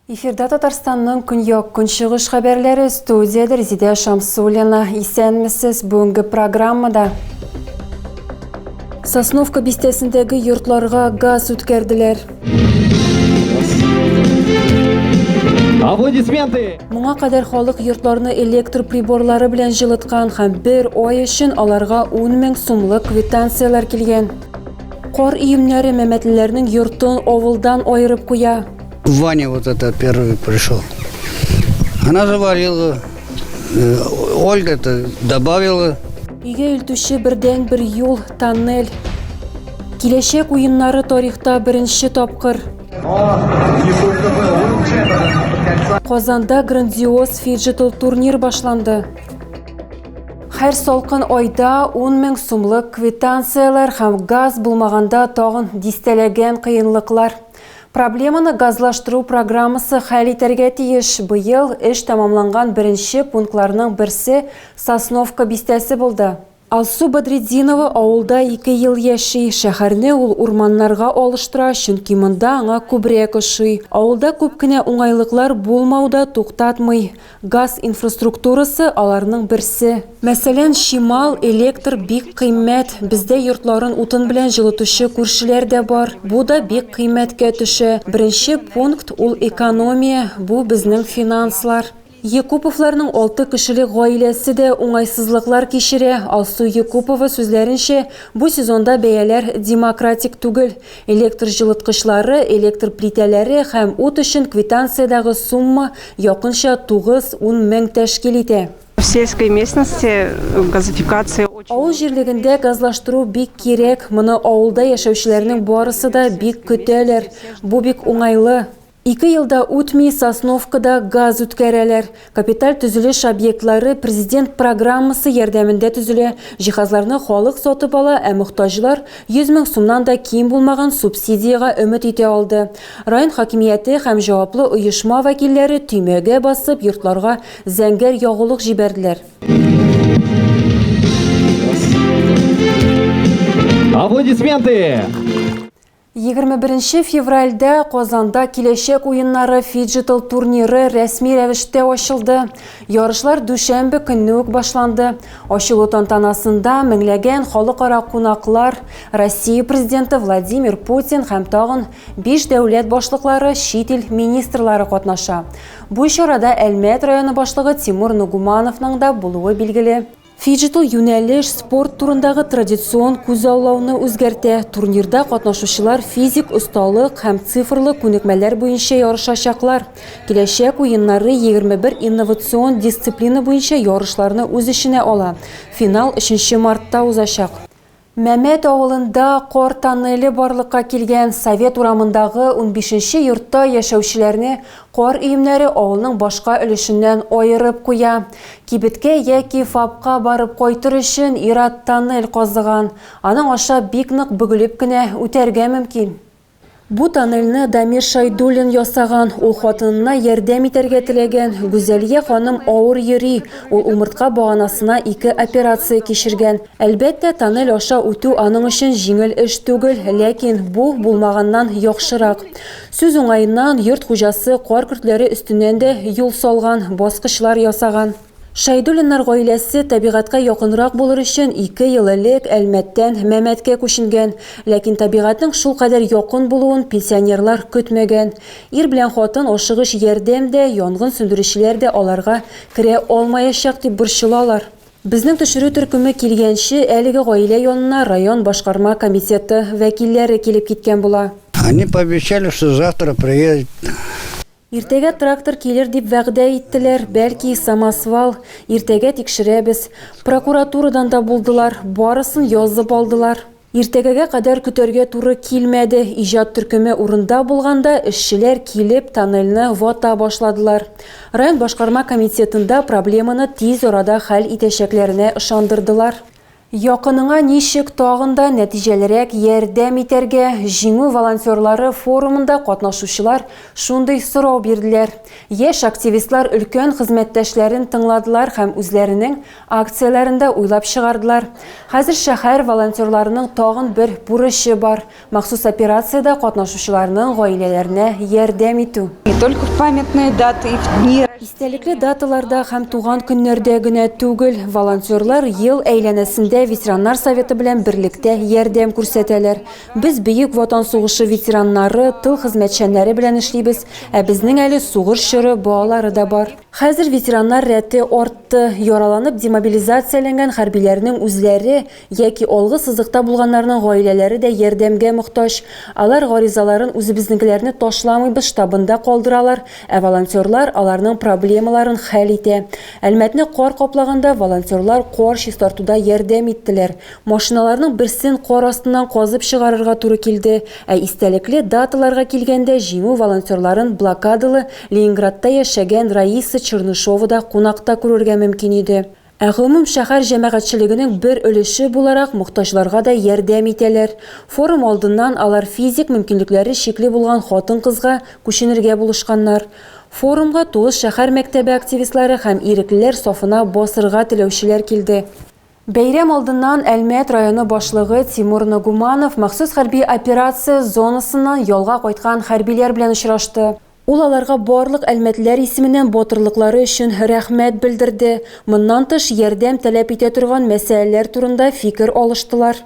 Эфирда Татарстанның көньяк көнчыгыш хәбәрләре студияда Резидә Шамсулина. Исәнмесез бүгенге программада. Сосновка бистәсендәге йортларга газ үткәрделәр. Аплодисменты! Моңа кадәр халык йортларны электр приборлары белән җылыткан һәм бер ай өчен аларга 10 мең сумлык квитанцияләр килгән. Кар иемнәре мәмәтлеләрнең йортын авылдан айырып куя. Ваня вот это первый пришел. Она заварила, э, Ольга это добавила. Өйгә илтүче бердән бер юл, тоннель. Киләчәк уеннары тарихта беренче тапкыр. Казанда грандиоз фиджитал турнир башланды. Һәр салкын айда 10 мең сумлык квитанцияләр һәм газ булмаганда тагын дистәләгән кыенлыклар. Проблеманы газлаштыру программасы хәл итәргә тиеш. Быел эш тәмамланган беренче пунктларның берсе Сосновка бистәсе булды. Алсу Бадретдинова авылда ике ел яши. Шәһәрне ул урманнарга алыштыра, чөнки монда аңа күбрәк ошый. Авылда күп кенә уңайлыклар булмау да туктатмый. Газ инфраструктурасы, аларның берсе. Мәсәлән, чимал, электр бик кыйммәт. Бездә йортларын утын белән җылытучы күршеләр дә бар. Бу да бик кыйммәткә төшә. Беренче пункт, ул экономия, бу, безнең финанслар. Екуповларның алты кешелек гаиләсе дә уңайсызлыклар кичерә. Алсу Екупова сүзләренчә, бу сезонда бәяләр демократик түгел. Электр җылыткычлары, электр плитәләре һәм ут өчен квитанциядәге сумма якынча тугыз-ун мең тәшкил итә. В сельской местности газификация очень. Авыл җирлегендә газлаштыру бик кирәк. Моны авылда яшәүчеләрнең барысы да бик көтәләр. Бу бик уңайлы. Ике ел да үтми, Сосновкада газ үткәрәләр. Капиталь төзелеш объектлары Президент программасы ярдәмендә төзелә, җиһазларны халык сатып ала, ә мохтаҗлар 100 мең сумнан да ким булмаган субсидиягә өмет итә алды. Район хакимияте һәм җаваплы оешма вәкилләре төймәгә басып, йортларга зәңгәр ягулык җибәрделәр. Аплодисменты! Егерме беренче февральдә Казанда Киләчәк уеннары фиджитал турниры рәсми рәвештә ачылды. Ярышлар дүшәмбе көнне үк башланды. Ачылу тантанасында меңләгән халыкара кунаклар, Россия Президенты Владимир Путин һәм тагын биш дәүләт башлыклары, чит ил министрлары катнаша. Бу чарада Әлмәт районы башлыгы Тимур Нугумановның да булуы билгеле. Фиджитал юнәлеш спорт турындагы традицион күзаллауны үзгәртә. Турнирда катнашучылар физик осталык һәм цифрлы күнекмәләр буенча ярышачаклар. Киләчәк уеннары 21 инновацион дисциплина буенча ярышларны үз эченә ала. Финал 3 нче мартта узачак. Мәмәт авылында кар тоннеле барлыкка килгән Совет урамындагы унбишенче йортта яшәүчеләрне кар өемнәре авылның башка өлешеннән аерып куя. Кибеткә яки ФАПка барып кайтыр өчен ир-ат тоннель казыган. Аның аша бик нык бөгелеп кенә үтәргә мөмкин. Бу тоннельне Дамир Шайдуллин ясаган. Ул хатынына ярдәм итәргә теләгән. Гүзәлия ханым авыр йөри. Ул умыртка баганасына ике операция кичергән. Әлбәттә, тоннель аша үтү аның өчен җиңел эш түгел, ләкин бу, булмаганнан яхшырак. Сүз уңаеннан, йорт хуҗасы кар көртләре өстеннән дә юл салган, баскычлар ясаган. Шәйдуллиннар гаиләсе табигатькә якынрак булыр өчен ике ел элек Әлмәттән Мәмәткә күченгән. Ләкин табигатьнең шулкадәр якын булуын пенсионерлар көтмәгән. Ир белән хатын ашыгыч ярдәм дә, янгын сүндерүчеләр дә аларга керә алмаячак дип борчылалар. Безнең төшерү төркеме килгәнче, әлеге гаилә янына район башкарма комитеты вәкилләре килеп киткән була. Они пообещали, что завтра приедет. Иртәгә трактор килер дип вәгъдә иттеләр, бәлки, самосвал. Иртәгә тикшерәбез. Прокуратурадан да булдылар, барысын язып алдылар. Иртәгәгә кадәр көтәргә туры килмәде, иҗат төркеме урында булганда, эшчеләр килеп, тоннельне вата башладылар. Район башкарма комитетында проблеманы тиз арада хәл итәчәкләренә ышандырдылар. Якыныңа ничек тагын да нәтиҗәлерәк ярдәм итәргә? Җиңү волонтерлары форумында катнашучылар шундый сорау бирделәр. Яшь активистлар өлкән хезмәттәшләрен тыңладылар һәм үзләренең акцияләрен дә уйлап чыгардылар. Хәзер шәһәр волонтерларының тагын бер бурычы бар, Махсус операциядә катнашучыларның гаиләләренә ярдәм итү. Не только в памятные даты и в дни. Истәлекле даталарда һәм туган көннәрдә генә түгел, волонтерлар ел әйләнәсендә ветераннар советы белән берлектә ярдәм күрсәтәләр. Без Бөек Ватан сугышы ветераннары, тыл хезмәтчәннәре белән эшлибез, ә безнең әле сугыш чоры балалары да бар. Хәзер ветераннар рәте артты. Яраланып демобилизацияләнгән хәрбиләрнең үзләре, Яки алгы сызыкта булганнарның гаиләләре дә ярдәмгә мохтаҗ. Алар гаризаларын үзебезнекеләрне ташламыйбыз штабында калдыралар, ә волонтерлар аларның проблемаларын хәл итә. Әлмәтне кар каплаганда волонтерлар кар чистартуда ярдәм иттеләр. Машиналарның берсен кар астыннан казып чыгарырга туры килде. Ә истәлекле даталарга килгәндә Җиңү волонтерларын блокадалы Ленинградта яшәгән Раиса Чернышова да кунакта күрергә мөмкин иде. Ә гомум шәһәр җәмәгатьчелегенең бер өлеше буларак мохтаҗларга да ярдәм итәләр. Форум алдыннан алар физик мөмкинлекләре чикле булган хатын-кызга күченергә булышканнар. Форумга Туыш шәһәр мәктәбе активистлары һәм иреклеләр сафына басырга теләүчеләр килде. Бәйрәм алдыннан Әлмәт районы башлыгы Тимур Нагуманов махсус хәрби операция зонасыннан ялга кайткан хәрбиләр белән очрашты. Ул аларга барлык әлмәтлеләр исеменнән батырлыклары өчен рәхмәт белдерде, моннан тыш, ярдәм таләп итә торган мәсьәләләр турында фикер алыштылар.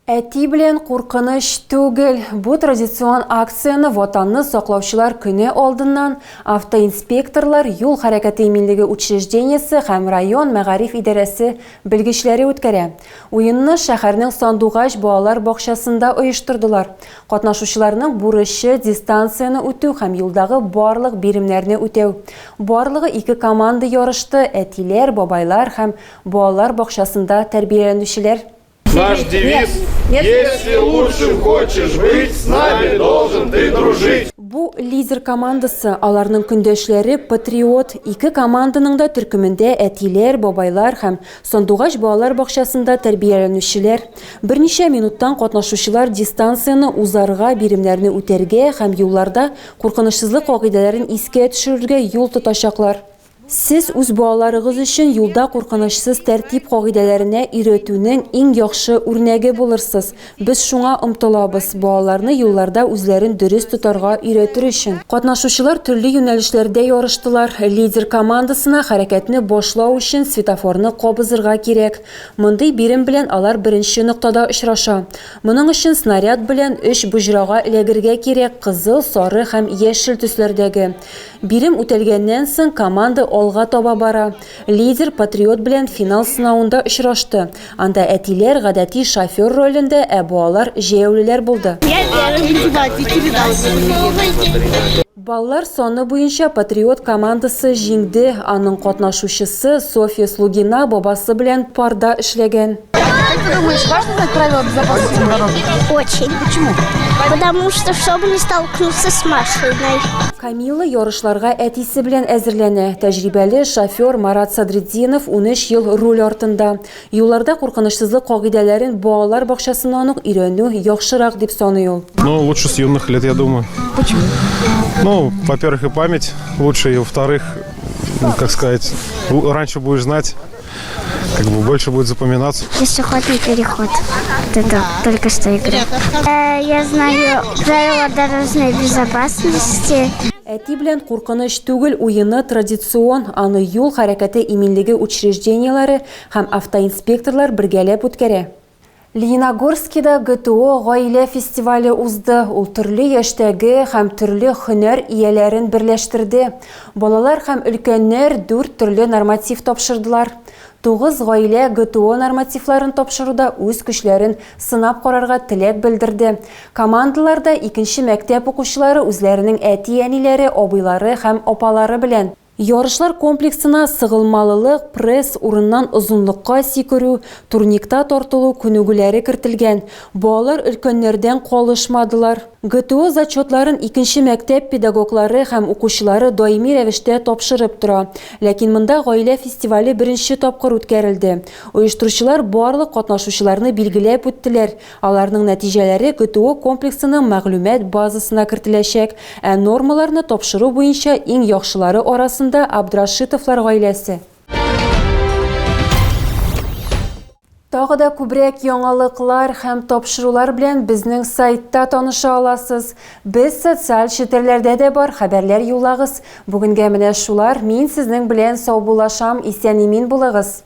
Әти белән куркыныч түгел. Бу традицион акцияне Ватанны саклаучылар көне алдыннан автоинспекторлар, юл хәрәкәте иминлеге учреждениесе һәм район мәгариф идарәсе белгечләре үткәрә. Уенны шәһәрнең Сандугач балалар бакчасында оештырдылар. Катнашучыларның бурычы, дистанцияне үтү һәм юлдагы барлык биремнәрне үтәү. Барлыгы ике команда ярышты, әтиләр, бабайлар һәм балалар бакчасында тәрбияләнүчеләр. Наш девиз, Если лучшим хочешь быть, с нами должен ты дружить. Бу, лидер командасы, аларның көндәшләре, патриот. Ике команданың да төркемендә әтиләр, бабайлар һәм Сандугач балалар бакчасында тәрбияләнүчеләр, берничә минуттан катнашучылар дистанцияне узарга, биремнәрне үтәргә һәм юлларда куркынычсызлык кагыйдәләрен искә төшерергә юл тотачаклар. Сез үз балаларыгыз өчен юлда куркынычсыз тәртип кагыйдәләренә өйрәтүнең иң яхшы үрнәге булырсыз. Без шуңа омтылабыз, балаларны юлларда үзләрен дөрес тотарга өйрәтер өчен. Катнашучылар төрле юнәлешләрдә ярыштылар. Лидер командасына хәрәкәтне башлау өчен светофорны кабызырга кирәк. Мондый бирем белән алар беренче ноктада очраша. Моның өчен снаряд белән өч боҗрага эләгергә кирәк, кызыл, сары һәм яшел төсләрдәге. Бирем үтәлгәннән соң, команда алга таба бара. Лидер Патриот белән финал сынавында очрашты. Анда әтиләр гадәти шофер ролендә, ә бу алар җәяүлеләр булды. Баллар саны буенча Патриот командасы җиңде, аның катнашучысы Софья Слугина бабасы белән парда эшләгән. Как ты думаешь, важно знать правила безопасности на дороге? Очень. Почему? Потому что, чтобы не столкнуться с машиной. Камила ярышларга әтисе белән әзерләнә. Тәҗрибәле шофер Марат Садретдинов 13 ел руль артында. Юлларда куркынычсызлык кагыйдәләрен балалар бакчасыннан ук өйрәнү яхшырак дип саный ул. Ну, лучше с юных лет, я думаю. Почему? Ну, во-первых, и память лучше, и во-вторых, ну, как сказать, раньше будешь знать, Как бы больше будет запоминаться. Пешеходный переход. Туда, только что игры. Э, я знаю правила дорожной безопасности. Әти белән куркыныч түгел уены традицион, аны юл хәрәкәте иминлеге учреждениеләре һәм автоинспекторлар бергәләп үткәрә. Лениногорскида ГТО Гаилә фестивале узды, ул төрле яшьтәге һәм төрле һөнәр ияләрен берләштерде. Балалар һәм өлкәннәр дүрт төрле норматив тапшырдылар. Тугыз гаилә ГТО нормативларын тапшыруда үз көчләрен сынап карарга теләк белдерде. Командаларда икенче мәктәп укучылары үзләренең әти-әниләре, абыйлары һәм апалары белән. Ярышлар комплексына сыгылмалылык, пресс, урыннан озынлыкка сикерү, турникта тартылу күнегүләре кертелгән. Балалар өлкәннәрдән калышмадылар. ГТО зачетларын икенче мәктәп педагоглары һәм укучылары даими рәвештә тапшырып тора. Ләкин монда гаилә фестивале беренче тапкыр үткәрелде. Оештыручылар барлык катнашучыларны билгеләп үттеләр, Аларның нәтиҗәләре ГТО комплексының мәгълүмат базасына кертеләчәк, ә нормаларны тапшыру буенча иң яхшылары арасында Абдрашитовлар гаиләсе. Тагы да күбрәк яңалыклар һәм тапшырулар белән безнең сайтта таныша аласыз. Без социаль челтәрләрдә дә бар, хәбәрләр юллагыз. Бүгенгә менә шулар, мин сезнең белән саубуллашам, исән-имин булыгыз!